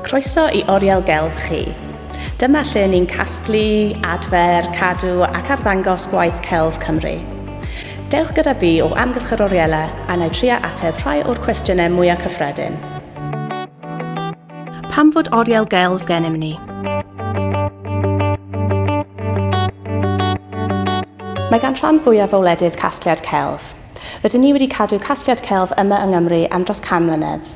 Croeso i Oriel Gelf chi. Dyma lle ni'n casglu, adfer, cadw ac arddangos gwaith celf Cymru. Dewch gyda fi o amgylch yr oriela a na i trio ateb rhai o'r cwestiynau mwyaf cyffredin. Pam fod oriel gelf gennym ni? Mae gan rhan fwyaf o wledydd casgliad celf. Rydyn ni wedi cadw casgliad celf yma yng Nghymru am dros 100 mlynedd.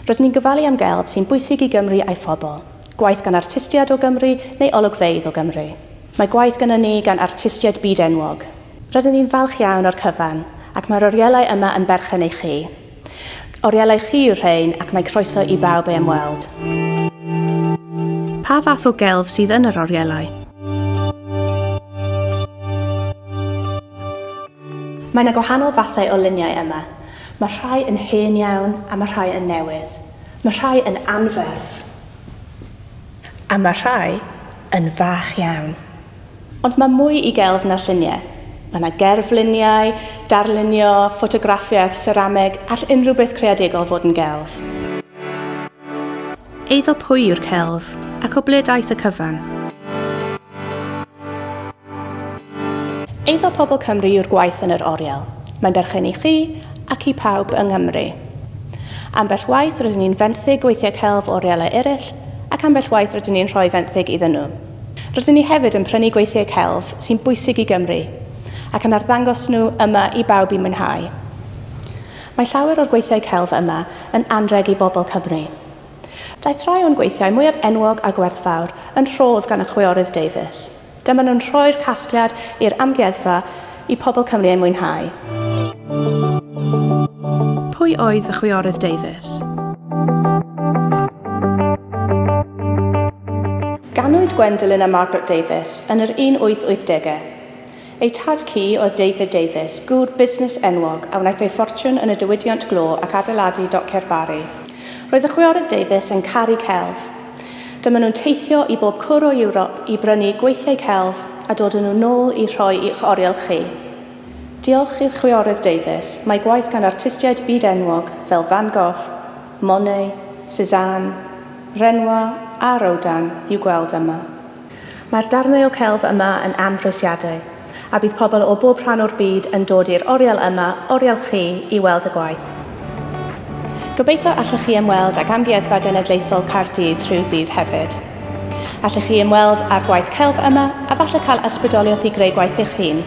Rydyn ni'n gofalu am gelf sy'n bwysig i Gymru a'i phobl. Gwaith gan artistiaid o Gymru neu olygfeydd o Gymru. Mae gwaith gynnon ni gan artistiaid byd-enwog. Rydyn ni'n falch iawn o'r cyfan, ac mae'r orielau yma yn berchen i chi. Orielai chi yw'r rhein ac mae croeso i bawb ei ymweld. Pa fath o gelf sydd yn yr orielau? Mae na gwahanol fathau o luniau yma. Mae rhai yn hen iawn a mae rhai yn newydd. Mae rhai yn anferth a mae rhai yn fach iawn. Ond mae mwy i gelf na lluniau. Mae yna gerfluniau, darlunio, ffotograffiaeth, serameg, all unrhyw beth creadigol fod yn gelf. Eiddo pwy yw'r celf, ac o ble daeth y cyfan? Eiddo pobl Cymru yw'r gwaith yn yr oriel. Mae'n berchen i chi ac i pawb yng Nghymru. Ambell waith rydyn ni'n fenthyg gweithiau celf o orielau eraill, ac ambell waith rydyn ni'n rhoi fenthyg iddyn nhw. Rydyn ni hefyd yn prynu gweithiau celf sy'n bwysig i Gymru ac yn arddangos nhw yma i bawb i mwynhau. Mae llawer o'r gweithiau celf yma yn anrheg i bobl Cymru. Daeth rhai o'n gweithiau mwyaf enwog a gwerthfawr yn rhodd gan y chwiorydd Davies. Dyma nhw'n rhoi'r casgliad i'r amgueddfa I pobl Cymru ei mwynhau. Pwy oedd y chwiorydd Davies? Ganwyd Gwendolyn a Margaret Davies yn yr 1880au. Eu tad cu oedd David Davies, gŵr busnes enwog, a wnaeth ei ffortiwn yn y diwydiant glo ac adeiladu Dociau'r Barri. Roedd y chwiorydd Davies yn caru celf. Dyma nhw'n teithio i bob cwr o Ewrop i brynu gweithiau celf a dod â nhw nôl i rhoi i'ch oriel chi. Diolch i'r Chwiorydd Davies, mae gwaith gan artistiaid byd-enwog fel Van Gogh, Monet, Cézanne, Renoir a Rodin i'w gweld yma. Mae'r darnau o celf yma yn amhrisiadwy, a bydd pobl o bob rhan o'r byd yn dod i'r oriel yma, oriel chi, i weld y gwaith. Gobeithio allwch chi ymweld ag Amgueddfa Genedlaethol Caerdydd rhyw ddydd hefyd. Allwch chi ymweld â'r gwaith celf yma a falle cael ysbrydoliaeth i greu gwaith eich hun.